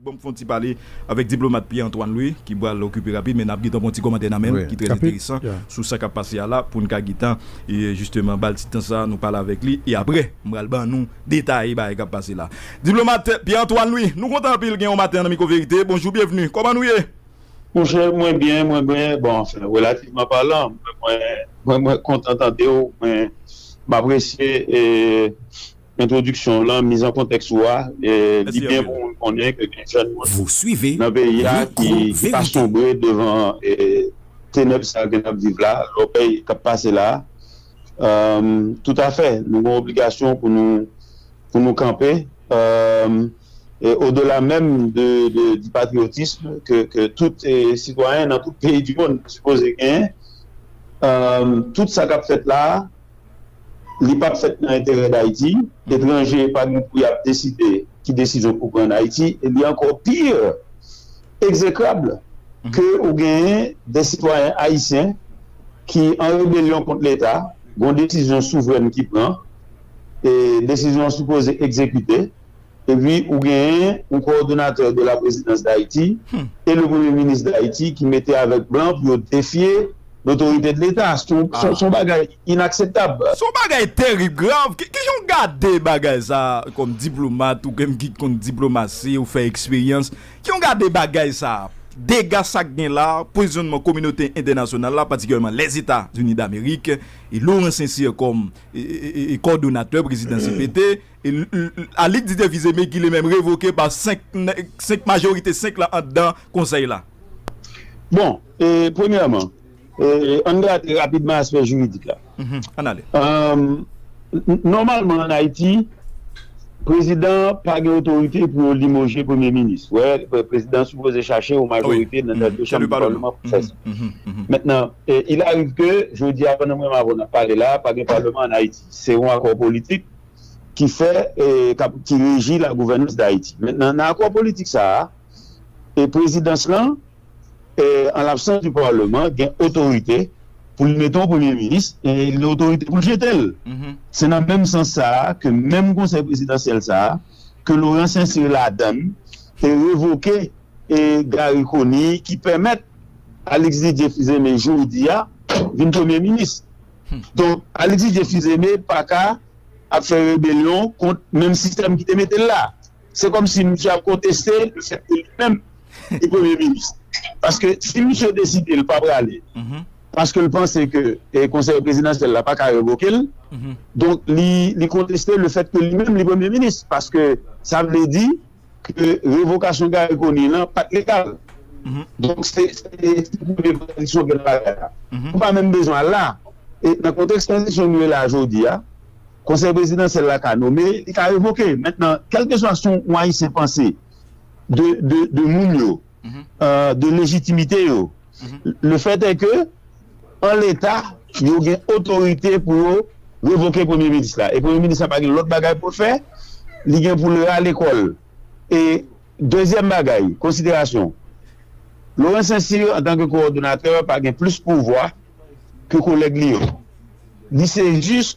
Banm fon ti pale avèk diplomat Pierre Antoine Louis ki pral okipe rapid men nap gentan pran ti kòmantè nan menl ki trè enteresan sou sa kap pase a la poun ka gentan jisteman bal ti tan sa nou pale avèk li e aprè m pral ban nou detaye bagay kap pase la. Diplomat Pierre Antoine Louis nou kontan anpil gen ou maten an nan Micro Verite bonjou byenvni kòman nou ye? Monchè mwen byen mwen byen bon anfen relativman palan mwen mwen mwen kontan tandew mwen m apresye e. Entwodiksyon w lan, miz an kontèks ou a, li byen pou moun konnen ke gen jèn moun nan peyi a ki pa sonbre devan tenèb sa ke n ap viv la, lòbèy k ap pase la a. Toutafè, nou gen obligasyon pou nou pou nou kanpe e odela menm de di patriyotism ke tout sitwayen nan tout peyi di monn sipoze genyen. Tout sa k ap fèt la a. Li pap fèt nan enterè Dayiti. Etranje pa gen pou yap deside ki desizyon pou pran an Ayiti e li ankò pi ekzekrab ke ou genyen de sitwayen ayisyen ki an rebelyon kont leta, gon desizyon souvrèn ki pran e desizyon an sipoze ekzekite. epi ou genyen yon coordonnateur de la présidence d'Haïti et le Premier ministre d'Haïti ki mete avèk blan pou yo defye l'autorité de l'Etat, son bagay inakseptab. Son bagay terib, grav, kijan w gade bagay sa kòm diplomat ou menm ki konn diplomasi ou fè eksperyans, kijan w gade bagay sa, dega sa gen la, pozisyonman kominote entènasyonal la patikilyèman Lèzeta Zini Damerik e Laurent Sincere kòm kòdonatè prezidans CPT. Alick di devize me gile menm revoke pa 5 nèg majorite 5 la andan konsèy la. Bon, premyèman, ann grate rapidman aspè jiridik la. Ann ale. Nòmalman ann Ayiti, prezidan pa gen otorite pou yo limoje premye minis. Ou wè, prezidan sipoze chache yon majorite nan de chanm palman pou fè sa. Mentnan, il ariv ke jodi a pandan mwen m avè w n ap pale la, pa gen palman ann Ayiti. Se yon akò politik. ki fè kap ki reji la gouvènans Dayiti. Mentnan nan akò politik sa a, e prezidans lan, an labsans di palman, gen otorite pou li mete yon premye minis e li gen otorite pou li jete l. Se nan menm sans sa a ke menm konsèy prezidansyèl sa a, ke Loran Sensir ladan l, te revoke e Gari Koni ki pèmèt Alix Didier Fils-Aimé jodi a vin premye minis. Donk, Alexis Dieu Fils-Aimé pa ka ap fè rebelyon kont menm sistèm ki te mete l la. Se kòm si misye ap konteste le fèt ke li menm li premye minis. Paske si misye deside l pa prale, paske l panse ke konsèy prezidansyèl la pa ka revoke l, donk li konteste le fèt ke li menm li premye minis. Paske sa vle di ke revokasyon Garry Conille lan pat legal. Donk se premye kontradisyon gen nan bagay la. Nou pa menm bezwen al la. E nan kontèks tranzisyon nou ye la jodi a, Konsèy Prezidansyèl la ka nome, li ka revoke. Mentnan, kèlkeswa son ou Ayisyen panse de moun yo, de lejitimite yo. Le fèt è ke, an leta, yo gen otorite pou yo revoke Premye Minis la. E Premye Minis la pa gen lòt bagay pou l fè, li gen pou l rale kò l. E dezyèm bagay, konsiderasyon, Laurent Saint-Cyr, antan ke kowòdonatè, pa gen plis pouvwa ke kolèg li yo. Li se jis.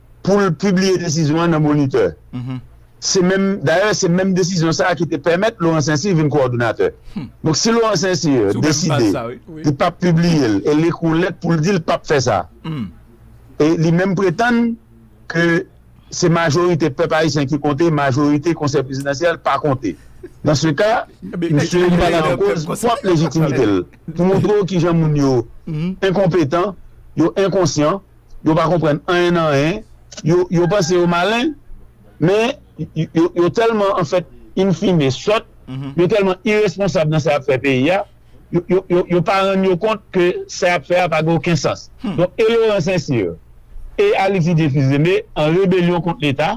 pou l pibliye desizyon an nan Moniteur. Se menm, dayè se menm desizyon sa a ki te pèmèt Laurent Saint-Cyr vin kowòdonatè. Donk si Laurent Saint-Cyr deside li p ap pibliye l e l ekri yon lèt pou l di l p ap fè sa, e li menm pretann ke se majorite pèp ayisyen ki konte, majorite Konsèy Prezidansyèl pa konte. Dans ce cas, misye mete an koz pwòp lejitimite l pou montre w kijan moun yo enkonpetan, yo enkonsyan. yo pa konprann anyen nan anyen, yo yo panse yo malen, men yo yo tèlman an fèt in fine sòt, yo tèlman iresponsab nan sa y ap fè peyi a, yo yo yo pa rann yo kont ke sa y ap fè a pa gen oken sans. Donk e Loran Sensir e Alexis Dyefils Aimé an rebelyon kont Leta.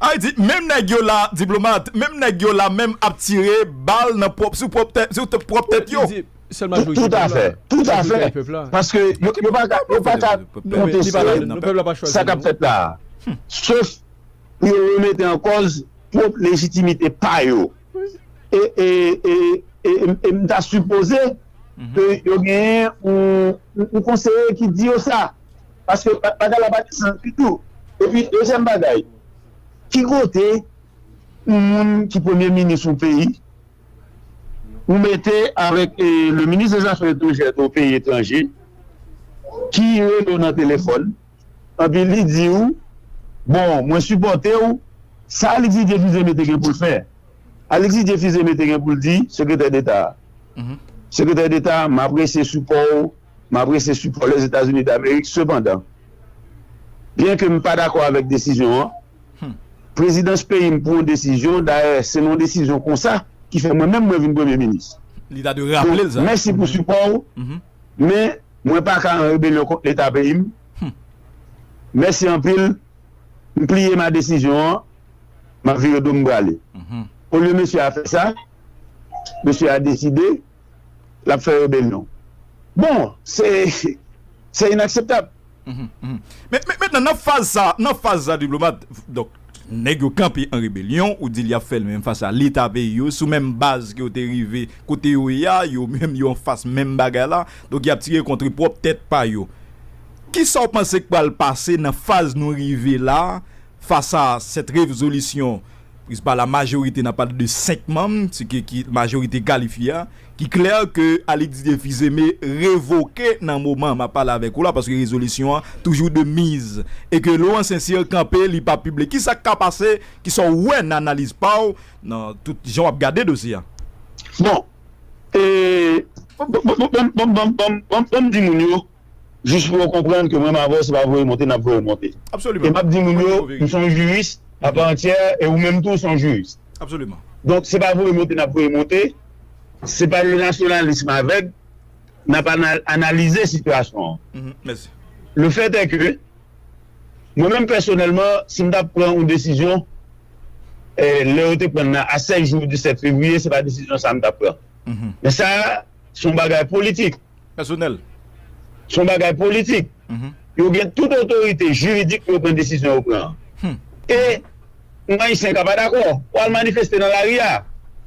A y di, menm nèg yo la, Diplomat, menm nèg yo la menm ap tire bal nan pwòp sou pwòp tèt sou pwòp tèt yo. Tout afè, tout afè, paske yo pa ka konteste sa k ap fèt la a, sof pou yo remete an kòz pwòp lejitimite pa yo. E m ta sipoze ke yo genyen yon konseye ki di yo sa, paske bagay la pa gen sans ditou. E pi, dezyèm bagay, ki kote yon moun ki premye minis yon peyi Ou mete avèk le minis de zafè etranjè o peyi etranje ki rele w nan telefòn epi li di w bon mwen sipòte w sa Alexis Dieu Fils Aimé te gen pou l fè Alexis Dieu Fils Aimé te gen pou l di sekretè deta a sekretè deta m apresye sipò w m apresye sipò Lèzetazini Damerik sepandan byenke m pa dakò avèk desizyon an. Humm. Prezidans peyi m pou yon desizyon, dayè se nan yon desizyon konsa ki fè mwen menm mwen vin premye minis. Li ta dwe raple l sa. Mèsi pou sipò w, men mwen pa ka an rebelyon kont leta peyi m. Mèsi anpil, m pliye ma desizyon an, m ap vire do m m prale. Olye mesye a fè sa, mesye a deside. lap fè rebelyon bon se se inakseptab. Met nan nan faz sa nan faz sa diplomat donk nèg yo kanpe an rebelyon ou di yap fèl menm fas a leta peyi yo sou menm baz ke yo te rive kote yo ye a yo menm yo an fas menm bagay la donk yap tire kontre pwòp tèt pa yo kisaw panse k pral pase nan faz nou rive la fas a sèt revzolisyon Pris pa la majorite nan pale de 5 manm, se ke ki majorite kalifye a, ki klè ke Alix Didier Fils-Aimé revoke nan moman map pale avèk ou la paske rezolisyon an toujou de miz e ke Laurent Saint-Cyr kanpe li pa pible. Ki sak ka pase? Ki sa w wè nan analiz pa w nan tout jan wap gade dosye a? Bon, e, bon, bon, bon, bon, bon, bon, bon, bon, bon, bon m di moun yo. Jis pou yo konprann ke mwen m avè w se pa voye monte n ap voye w monte. E m ap di moun yo m se yon jiris apa antyè e ou menm tou w se yon jiris. Donk se pa voye monte n ap voye monte, se pa yon nasyonalism avèg, n ap analize sitiyasyon an. Le fèt è ke mwen menm pèsonèlman si m ta pran yon desizyon lè yo te pran nan a 16 jou di 7 fevriye se pa desizyon sa a m ta pran. Men sa a se yon bagay politik. pèsonèl. S on bagay politik. Yo gen tout otorite jiridik pou yo pran desizyon yo pran an. E, on Ayisyen ka pa dakò, ou al manifeste nan lari a.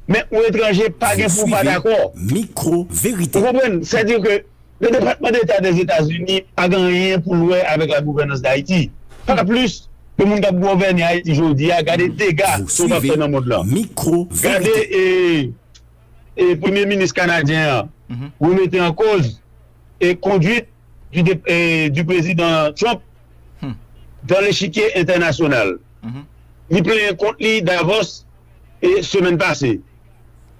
Men, on etranje pa gen pou ou pa dakò. Ou konprann? Sètadi ke le Depatman Deta dè Etazini pa gen anyen pou l wè avèk la gouvènans Dayiti. Pa plis ke moun k ap govène Ayiti jodi a, gade dega sa yo pa fè nan mond lan. Gade e. Premye Minis Kanadyen an remete an koz konduit di Prezidan Trump dan lechikye entènasyonal. Li plenyen kont li Davos semèn pase.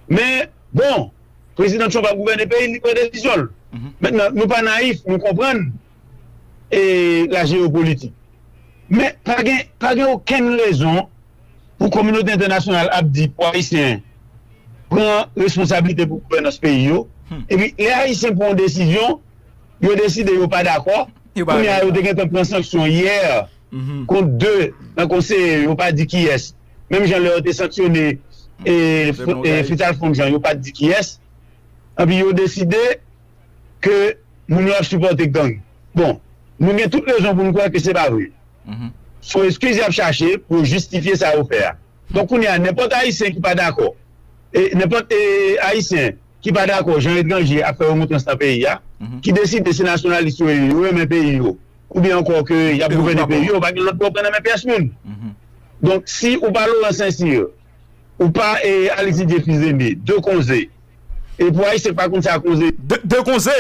Men, bon, Prezidan Trump ap gouvène peyi l, li pran desizyon l. Mentnan, nou pa nayif, nou konprann lajeyopolitik. Men, pa gen okenn rezon. pou kominote entènasyonal ap di pou ayisyen pran responsablite pou gouvènans peyi yo epi lè ayisyen pran yon desizyon yo deside yo pa dakò kounye a yo te gentan pran sanksyon yè kont 2 nan konseye yo pa di kiyès menm jan lè yo te sanksyone Fritz Alphonse Jean yo pat di kiyès epi yo deside ke moun yo ap sipòte gang. Bon, nou gen tout rezon pou nou kwè ke se pa vre. Son eskiz y ap chache pou yo jistifye sa yo fè a. Donk kounye a, nenpòt Ayisyen ki pa dakò, nenpòt Ayisyen ki pa dakò jan etranje ap fè remontrans nan peyi a, ki deside se nasyonalis yo ye, yo renmen peyi yo, oubyen ankò ke y ap gouvène peyi yo, yo pa gen lòt pou yo pran nan men pyès moun. Donk, si ou pa Laurent Saint-Cyr, Ou pa e al etidye fizeme. De konze. E pou ayisyen k pa konn sa konze. De konze?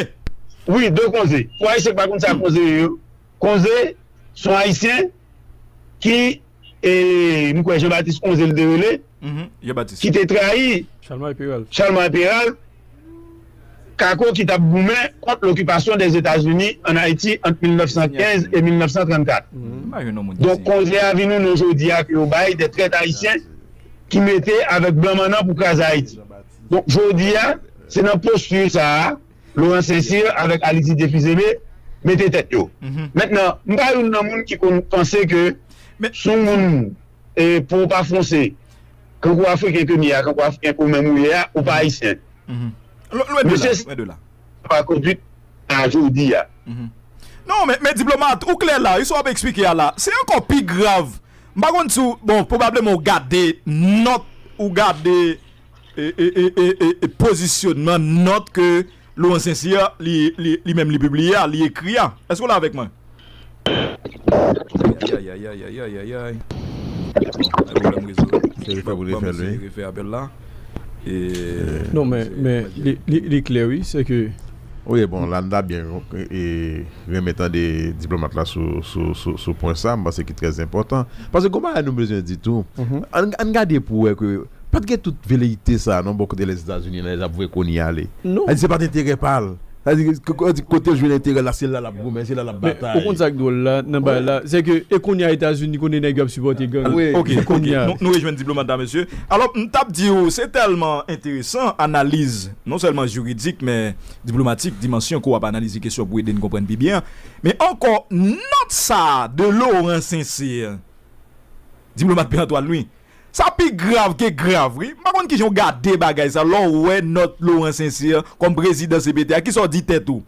Wi, de konze. Pou ayisyen k pa konn sa konze ye yo. Konze s on ayisyen ki e m kwè Jean Baptiste Konze li te rele. Ki te trayi Chalmay Peralt. Kako ki t ap goumen kont lokipasyon Dèzetazini ann Ayiti ant 1915 e 1934. Donk konze a vin yon non jodi a ke yo bay de trèt ayisyen ki mete avèk blan mannan pou kraze Ayiti. Donk jodi a, se nan posti sa a Loran Sensir avèk Alitidye Fizeme mete tèt yo. Mentnan, m pa youn nan moun ki konn panse ke si yon moun po pa fonse, Kankou afriken ke m ye a, kankou afriken ke w menm ou ye a, ou pa ayisyen. Mesye sa yo pa kondwit a jodi a. Non, men diplomat, ou klè la wi sa w ap eksplike a la. Se ankò pi grav. M pa konn si w, bon, pwobableman ou gade nòt, ou gade pozisyonman nòt ke Laurent Sincere li menm li pibliye a, li ekri a. Èske w la avèk mwen? Ayayayayayayayayayayayay. Gen pwoblèm rezo. Se refè pou refè l wi. Se refè apèl la. Non men, men li klè wi, se ke. Wi bon, la nou ta byen renmen tande diplomat la sou pwen sa, m panse ki trè enpòtan. Paske gen yon bagay nou bezwen di tou. Ann gade pou wè ke. Pat gen tout veleite sa non bò kote lèzetazini nan ap vwe koni ale sa di se pat enterè pal sa di kotel jwenn enterèl la se la lap goumen se la lap batay. Men ou konn sak dwòl la nan bagay la se ke e konya etazini konnen nèg yo ap sipòte gang wi ok ok nou rejwenn diplomat la mesye alò m tap diw se tèlman enteresan analiz non sèlman jiridik men diplomatik dimansyon ke w ap analize kesyon pou ede n konprann pi byen men ankò nòt sa de Laurent Sincere diplomat pè Antoine wi. Sa pi grav ke grav wi. M pa konn kijan w gade bagay sa lè w wè nòt Laurent Sincère kòm prezidan cpt a. Kisa w di tèt ou?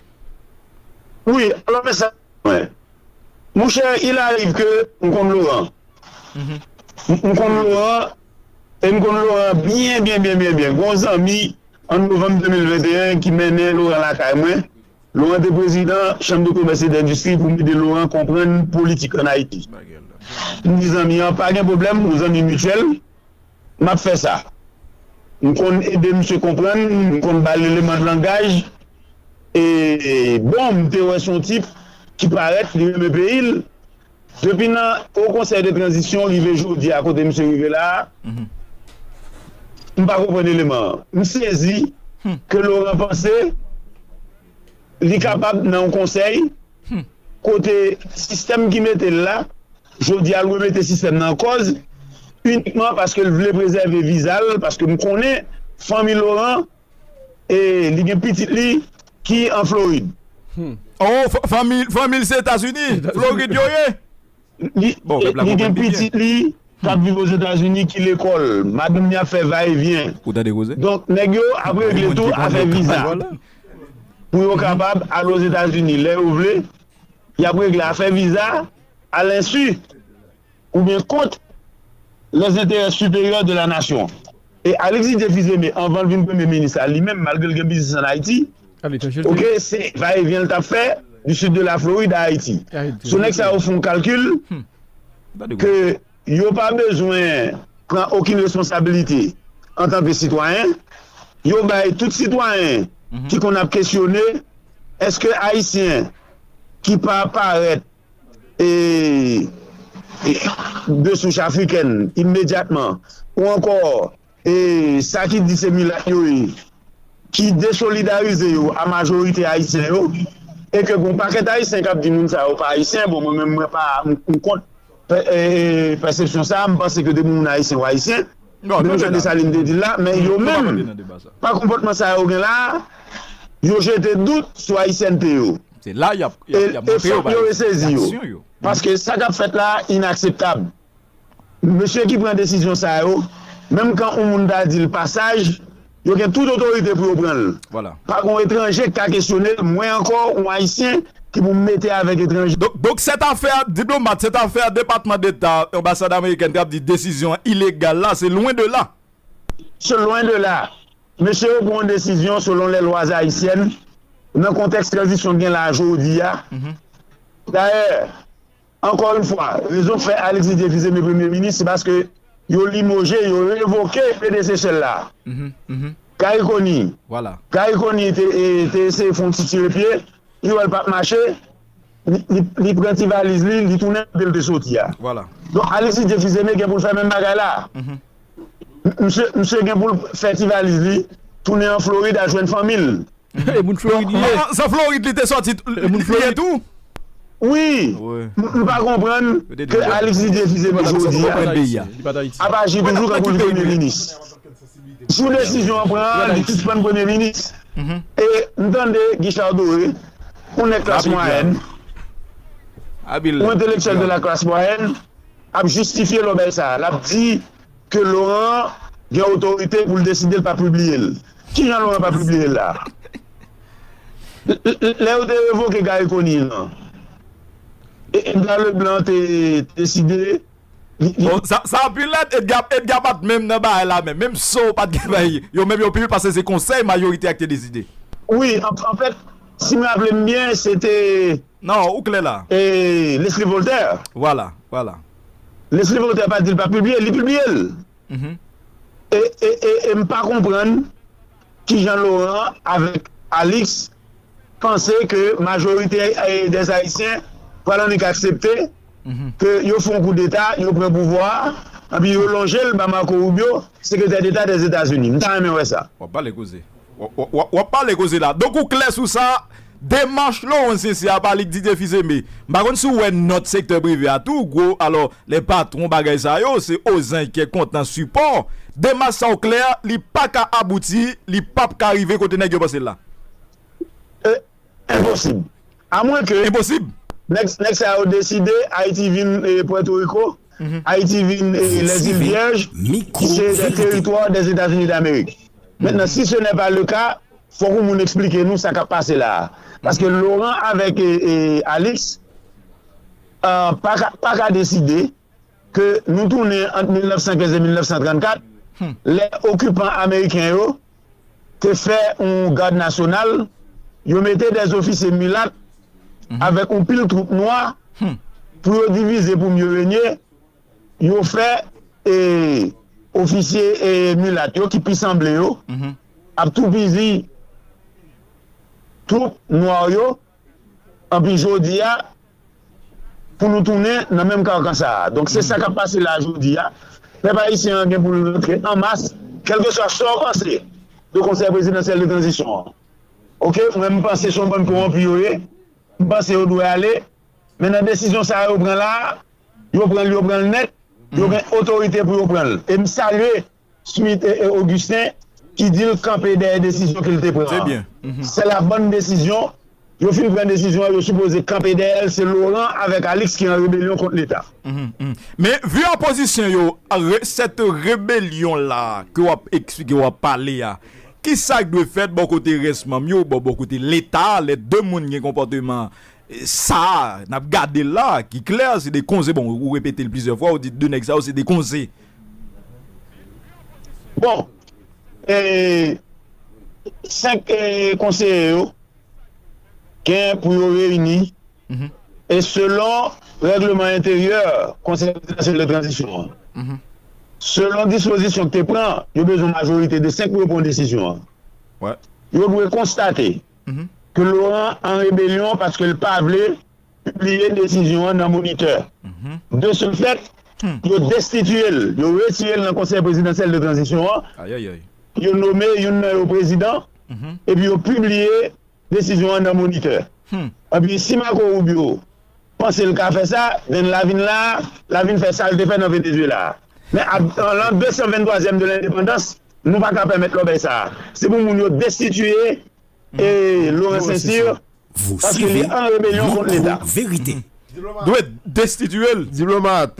Wi, alò men sa mwen. Monchè, il arrive ke m konn Laurent. M konn Laurent e m konn Laurent byen byen byen byen byen. Gen yon zanmi an novanm 2021 ki mennen Laurent lakay mwen. Laurent te prezidan chanm de komès e dendistri pou m ede Laurent konprann politik an Ayiti. M di zanmi an pa gen pwoblèm, nou zanmi mityèl, m ap fè sa m konn ede misye konprann, m konn ba l eleman langaj e bon m te wè se yon tip ki parèt li renmen peyi l. Depi nan Haut Conseil de Transition rive jodi a kote misye rive la a, m pa konprann eleman an. M sezi ke Laurent panse li kapab nan yon konsèy kote sistèm ki mete l la jodi a l remete sistèm nan an kòz inikman paske l vle prezève viza l paske m konnen fanmi Laurent E li gen pitit li ki an Florid. Oh fanmi l se etazini, florid yo ye? Li gen pitit li kap viv ozetazini ki lekòl, madanm li ap fè va e vyen. Donk nèg yo ap regle tou afè viza pou yo kapab al ozetazini lè yo vle, yap regle afè viza a lensu. oubyen kont les intérêts supérieurs de la nation. E Alexis te fils aimé anvan l vin premye minis la li menm malgre l gen biznis an Ayiti ok se va et vient l tap fè du sud de la Floride à Ayiti so nèg sa yo fon kalkil ke yo pa bezwen pran okin responsabilite antan ke sitwayen yo bay tout sitwayen ki konn ap kesyone eske Ayisyen ki pa parèt. e de souch afrikèn imedyatman ou ankò e sa ki di se milat yo ye ki desolidarize yo a majorite ayisyen yo e ke gon pakèt ayisyen kap di moun sa yo pa ayisyen bon mwen menm mwen pa m kont pèsepsyon sa a m panse ke depi moun ayisyen ou ayisyen. Menm jan Desalin te di l la, men yo menm, pa konpòtman sa yo gen la a, yo jete dout sou ayisyènte yo. E fòk yo resezi yo. Paske sa k ap fèt la a inakseptab. Mesye ki pran desizyon sa yo, menm kan oun moun ta di l pa saj, Yo gen tout otorite pou yo pran l. Pa gon etranje k ka kesyone l, mwen ankò yon Ayisyen ki pou m mete avèk etranje. Donk sètafè a diplomat, sètafè a Depatman Deta, anbasad amerikèn k ap di desizyon an ilegal la, se lwen de la. Se lwen de la. Mesye yo pran yon desizyon selon les lois haïtiennes nan kontèks tranzisyon k gen la jodi a. Dayè, Ankò yn fwa, rezon k fè Alexis Défi se me premye minis se paske yo limoje, yo revoke predesesè l la. Gary Conille, Gary Conille te eseye fon ti tire pye, li wè l pap mache, li pran ti valiz li, li tounen kote l te soti a. Donk Alexis Défi se me gen pou l fè menm bagay la. Misye gen pou l fè ti valiz li, tounen an Florid al jwenn fanmi l. E moun Florid li ye. San Florid li te sòti li ye tou. Wi, m pa konprann ke Alix li defize pou jodi a. Ap aji toujou tankou li premye minis. Jou desizyon an pran an li sispann premye minis. E m tande Guichard Doré, yon nèg klas mwayèn, yon entelektyèl de la classe moyenne ap jistifye lòbèy sa a. L ap di ke Laurent gen otorite pou l deside l pa pibliye l. Ki jan Laurent pa pibliye l la? Lè yo te revoke Garry Conille lan, Edgar Leblanc te deside li. O, sa anpil nèt! Edgar pa t menm nan bagay la menm. Menm so pa t gen bay yo menm yo pibliye paske se konsèy mayorite a ki te deside. Wi, anfèt, si m raple m byen, se te. Non, ou klè la. E Leslie Voltaire? Voilà, voilà. Leslie Voltaire pa di l pa pibliye, li pibliye l. E, e, e, e m pa konprann kijan Laurent avèk Alix panse ke majorite des Haïtiens pral annik aksepte ke yo fè yon koudeta, yo pran pouvwa a, anpi yo lonje l ba Marco Rubio, Sekretè Deta des États-Unis. M ta renmen wè sa. Wap pale koze. Wap pale koze la. Donk ou klè sou sa, demach Laurent Cincier a pa li k Didier Fils-Aimé. M pa konn si w wè nòt sektè prive a tou gwo alò lè patwon bagay sa yo se ozank kè kontan sipò. Demach sa w klè li pa ka abouti, li pap ka rive kote nèg yo panse l la. E enposib. A mwen ke. Enposib! Nèg sa yo deside Ayiti vin Puerto Rico, Ayiti vin Les Îles Vierges, ki se des territoires des États-Unis d'Amérique. Mentnan, si ce n'est pas le cas, fòk yon moun eksplike nou sa k ap pase la a. Paske Laurent avèk Alix pa ka deside. ke nou tounen ant 1915 e 1934, lè okipan ameriken yo te fè yon gad nasyonal, yo mete dè ofisye milat avèk yon pil twoup nwa pou yo divize pou mye renye, yo fè ofisye milat yo ki pi sanble yo ap toupizi twoup nwa yo. Anpi jodi a pou nou tounen nan menm kankan sa a. Donk se sa k ap pase la jodi a. Pèp ayisyen an gen pou l rantre an mas kèlkeswa sa w panse de konsèy prezidansyèl de tranzisyon an. Ok mwen m panse se yon bann kowonpi yo ye. M panse yo dwe ale. Men nan desizyon sa a yo pran la a, yo pran l yo pran l nèt. Yo gen otorite pou yo pran l. E m salye. Smith e e Augustin ki di l kanpe dèyè desizyon ke l te pran an. Se la bon desizyon, yo fin pran desizyon an yo sipoze kanpe dèyè l, se Laurent avèk Alix ki an rebelyon kont leta. Men vu opozisyon yo, cette rebelyon la ke w ap eksplike, w ap pale a, ki sa k dwe fèt bò kote rès manm yo, bò kote leta, lè de moun gen konpòteman sa a, n ap gade l la ki klè se de konze, bon ou repete l plizyè fwa, ou di de nèg sa yo se de konze. Bon, 5 konseye yo gen pou yo reyini e selon règleman enteryè Konsèy Prezidansyèl de Tranzisyon an, selon dispozisyon ki te pran, yo bezwen majorite de 5 pou yo pran yon desizyon an. Yo dwe konstate ke Laurent an rebelyon paske li pa vle. pibliye desizyon an nan Moniteur. De ce fait, yo destitiye l, yo retire l nan Konsèy Prezidansyèl de Tranzisyon an, yo nome youn nan yo prezidan, epi yo pibliye desizyon an nan Moniteur. Anpi, si Marco Rubio panse l ka fè sa, then la vin la a, la vin fè sa l te fè nan Venezuela a. Men a lan 223 zièm de lendepandans, nou pa ka pèmèt lòbèy sa a. Se pou moun yo destitiye e Laurent Cesir paske li an rebelyon kont leta. Dwe destitye l. Diplomat,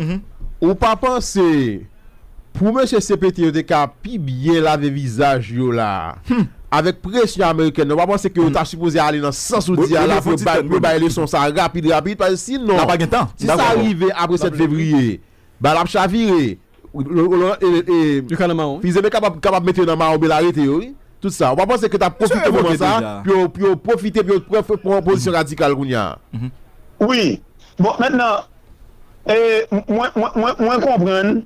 ou pa panse pou mesye CPT yo te ka pi byen lave vizaj yo la a? Avèk presyon amerikèn nan, ou pa panse ke yo ta sipoze ale nan sans ou di a la pou yo bay leson sa a rapid rapid? Paske sinon, si sa rive apre 7 fevriye, bal ap chavire. Yo ka nan mawon wi. Fizeme kapab mete yo nan mawon bela rete yo wi tout sa ou pa panse ke tap profite moman sa pou yo profite pou yo pran pozisyon radikal kounya. Wi bon mentnan mwen konprann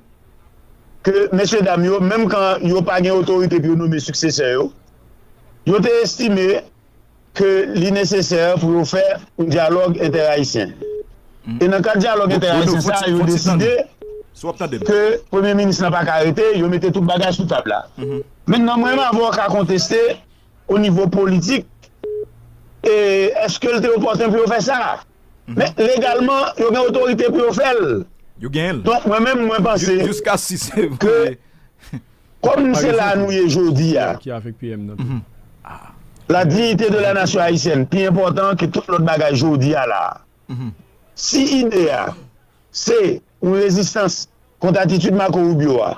ke mesye dam yo menm kan yo pa gen otorite pou yo nome siksesè yo yo te estime ke li nesesè pou yo fè yon dyalòg entè-ayisyen. E nan kad dyalòg entè-ayisyen sa a, yo deside ke Premye Minis la pa ka rete, yo mete tout bagay sou tab la. Mentnan mwen menm avè w ka konteste o nivo politik e eske l te opòten pou yo fè sa. Men legalman, yo gen otorite pou yo fè l. Donk mwen menm mwen panse ke. Kòm se la nou ye jodi a, la dignité de la nation haïtienne pi enpòtan ke tout lòt bagay jodi a la a. Si ide a se yon rezistans kont atitid Marco Rubio a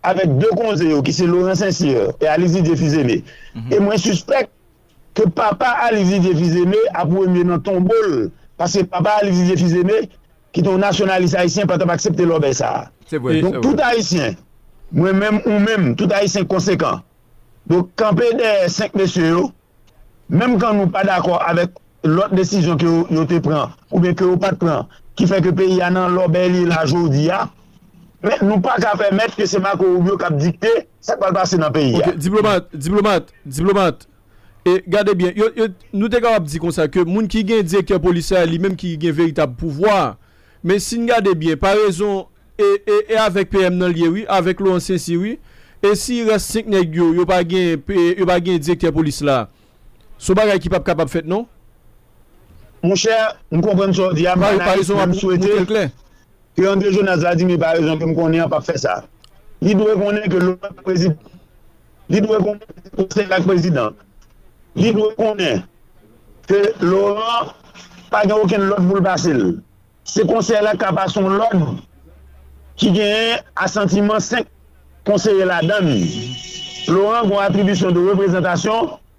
avèk 2 konze yo ki se Laurent St-Cyr e Alix Didier Fils-Aimé, e mwen sispèk ke papa Alix Didier Fils-Aimé ap remye nan tonbo l paske papa Alix Didier Fils-Aimé ki te yon nasyonalis ayisyen pa t ap aksepte lòbèy sa a. Donk, tout Ayisyen, mwen menm, ou menm, tout Ayisyen konsekan dwe kanpe dèyè senk mesye yo, menm kan nou pa dakò avèk lòt desizyon ke yo te pran oubyen ke yo pa t pran ki fè ke peyi a nan lòbèy li ye la jodi a. Men, nou pa ka pèmèt ke se Marco Rubio k ap dikte sa k pral pase nan peyi a. Ok, diplomat, diplomat, diplomat. E gade byen, yo, yo, nou te kapab di konsa ke moun ki gen direktè polis la, li menm ki gen veritab pouvwa a. Men si n gade byen, parezon, e, e, e avèk PM nan l ye wi, avèk Laurent Saincy wi. E si rès 5 nèg yo, yo pa gen, e, yo pa gen direktè polis la? S on bagay ki p ap kapab fèt non. Monchè, m konprann sa w di a, m analiz, men m swete ke André Jonas Vladimir, parezon ke m konnen an, p ap fè sa. Li dwe konnen ke Laurent Prezidan. li dwe konnen se konsèy la k prezidan. Li dwe konnen ke Loran pa gen okenn lòd pou l pase l. Se konsèy la k ka pase yon lòd ki genyen asantiman 5 konseye ladan l. Loran gen yon atribisyon de reprezantasyon.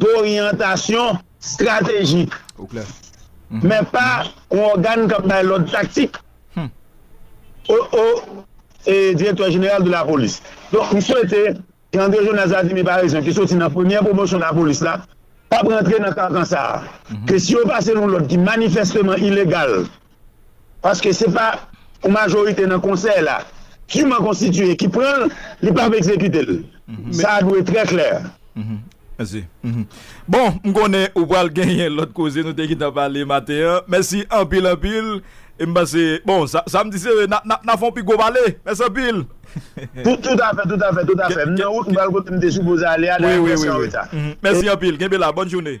doryantasyon stratejik, men pa yon ògàn k ap bay lòd taktik o direktè jeneral de lapolis. Donk m swete ke André Jonas Vladimir Paraison ki soti nan premyè pwomosyon lapolis la p ap rantre nan kankan sa a, ke si yo pase l yon lòd ki manifèsteman ilegal, paske se pa yon majorite nan konsèy la duman konstitiye ki pran l, li pap ekzekite l. Sa a dwe trè klè. Mèsi. Bon, m konnen ou pral genyen lòt koze nou te gentan pale maten an. Mèsi anpil anpil. E m panse, bon, sa m di se n ap fè yon pi gwo pale. Mèsi anpil. Toutafè, toutafè, toutafè. M nan wout m pral kote m te sipoze ale a, dayè m prèske an reta. Mèsi anpil. Kenbe la. Bòn joune.